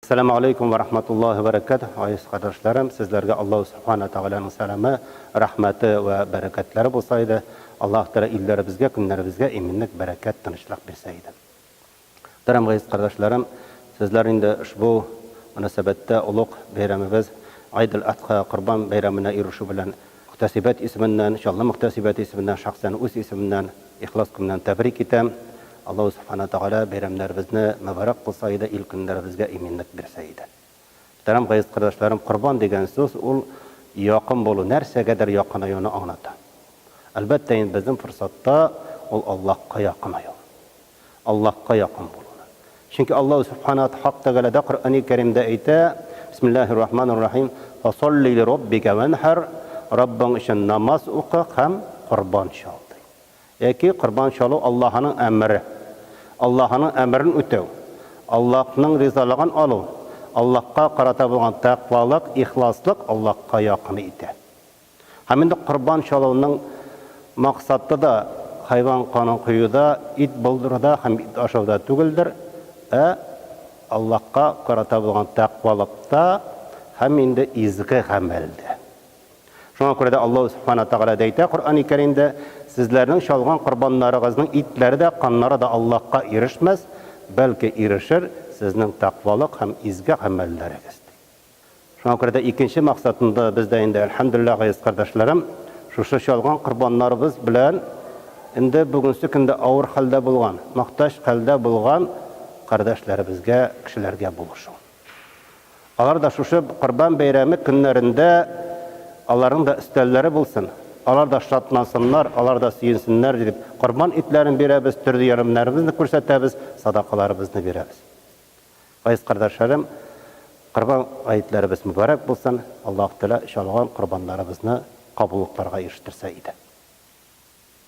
Сәләмә алейкум вә рахматуллаһи вә бәрәкәтүһ, азиз кардәшләрем, сезләргә Аллаһу Субхана Тәгаләнең сәламе, рәхмәте вә бәрәкәтләре булса иде, Аллаһ Тәгалә илләребезгә, көннәребезгә иминлек, бәрәкәт, тынычлык бирсә иде. Мөхтәрәм газиз кардәшләрем, сезләр инде ошбу мөнәсәбәттә олуг бәйрәмебез Гыйд әл-Адха, Корбан бәйрәменә ирешү белән Мөхтәсибәт исеменнән, Чаллы мөхтәсибәте исеменнән, шәхсән үз исемемнән ихлас күңелдән тәбрик итәм. Аллаһу Субхана Тәгалә бәйрәмнәребезне мөбарәк кылса иде, ил көннәребезгә иминлек бирсә иде. Мөхтәрәм газиз кардәшләрем, корбан дигән сүз ул якын булу, нәрсәгәдер якынаюны аңлата. Әлбәттә инде безнең форсатта ул Аллаһка якынаю. Аллаһка якын булуны. Чөнки Аллаһу Сүбхәнәһү Хак Тәгаләдә Коръәни Кәримдә әйтә, Бисмиллаһир Рахманир Рахим, Фасалли ли Раббика вәнхәр, Раббың өчен намаз укы һәм корбан чал, ди. Яки корбан чалу Аллаһының әмере. Аллаһының әмерен үтәү, Аллаһның ризалыгын алу, Аллаһка карата булган тәкъвалык, ихласлык Аллаһка якын итә. Һәм инде корбан чалуның максаты да хайван канын коюда, ит булдыруда һәм ит ашауда түгелдер, ә Аллаһка карата булган тәкъвалыкта һәм инде изге гамәлдә. Шуңа күрә дә Аллаһу Субхана Тәгалә дә әйтә Коръәни Кәримдә, Сезләрнең чалган корбаннарыгызның итләре дә, каннары да Аллаһка ирешмәс, бәлки ирешер сезнең тәкъвалык һәм изге гамәлләрегез, ди. Шуңа күрә дә икенче максатында без дә инде, әлхәмдүлилләһ, газиз кардәшләрем, шушы чалган корбаннарыбыз белән инде бүгенче көндә авыр хәлдә булган, мохтаҗ хәлдә булган кардәшләребезгә, кешеләргә булышу. Алар да шушы Корбан бәйрәме көннәрендә аларның да өстәлләре булсын, алар да шатлансыннар, алар да сөенсеннәр дип, корбан итләрен бирәбез, төрле ярдәмнәребезне күрсәтәбез, садакаларыбызны бирәбез. Газиз кардәшләрем, Корбан гаетләребез мөбарәк булсын! Аллаһу Тәгалә чалган корбаннарыбызны кабуллыкларга ирештерсә иде.